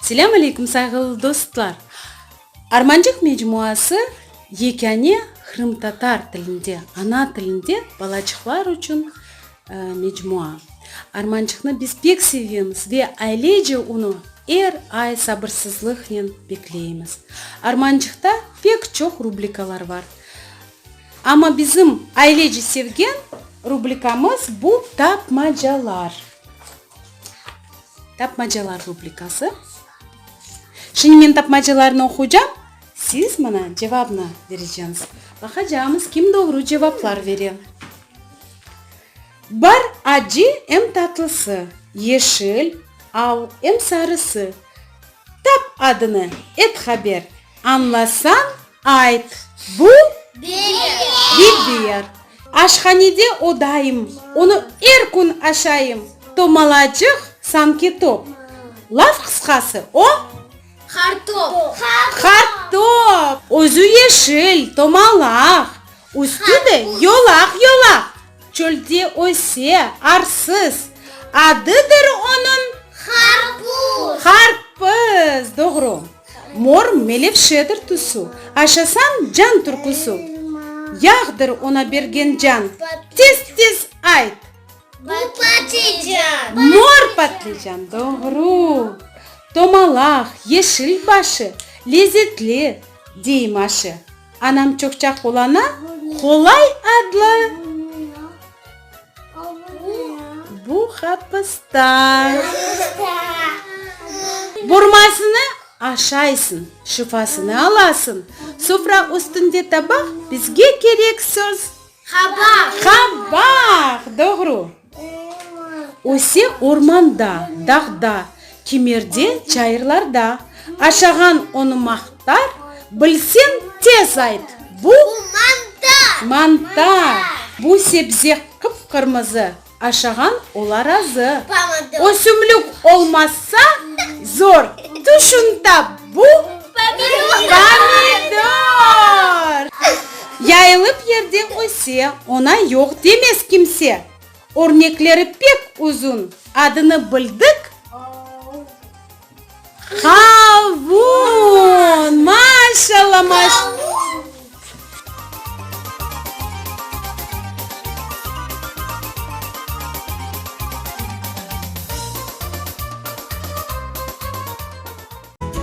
Selâm aleykum sayğılı dostlar! Armancıq mecmuası yekâne qırımtatar tilinde, ana tilinde balaçıqlar içün Mecmua. Armançıqnı biz pek sevemiz ve ailece unı er ay sabırsızlıqnen bekleymiz. Armançıqta pek çoq rubrikalar bar. Amma bizim ailece sevgen rubrikamız bu tapmacalar. Tapmacalar rubrikası. Şimdi men tapmacalarnı oquycam, siz mına cevabnı vereceñiz. Baqacağımız kim doğru cevaplar bere. Bar acı em tatlısı, yeşil, al em sarısı. Tap adını, et haber, añlasañ, ayt, bu, biber. Aşhanede o daim, onı er kün aşayım, tomalacıq, sanki top. Laf qısqası, o. Qartop. Qartop. Özü yeşil, tomalaq. Üstü de yolaq-yolaq. Çölde öse, arsız. Adıdır onıñ? Qarpuz. Qarpız, doğru. Mor melevşedir tusu. Aşasañ, can türküsü. Yağdır oña bergen can. Tez-tez ayt. Bu patlıcan. Mor patlıcan, doğru. Tomalaq, yeşil başı, lezetli, dey Maşı. Anam çoqça qulana, qolay adlı. Bu qapısta. Burmasını aşaysıñ, şifasını alasıñ. Sufra üstünde tabaq, bizge kerek söz. Qabaq. Qabaq! Doğru. Öse ormanda, dağda, kimerde, çayırlarda. Aşağan onı maqtar, bilseñ, tez ayt, bu? Bu mantar! Mantar! Bu sebze qıp-qırmızı. Aşağan ola razı. O sümlük olmazsa, zor. Tüşün tap, bu pomidor! Yayılıp yerde öse, ona yoq demez kimse. Örnekleri pek uzun, adını bildik. Qavun! Maşalla, maşalla!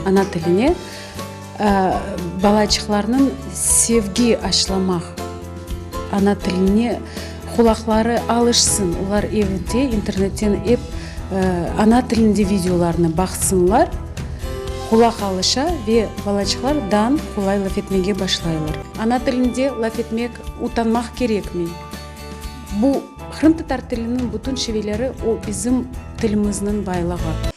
Ana tiline. Balaçıqlarnıñ sevgi aşlamaq, ana tiline qulaqları alışsın, olar evde internetten ep ana tilinde videolarnı baqsınlar, qulaq alışa ve balaçıqlar dan qolay laf etmege başlaylar. Ana tilinde laf etmek utanmaq kerekmey. Bu, qırımtatar tiliniñ bütün şiveleri, o bizim tilimizniñ baylığı.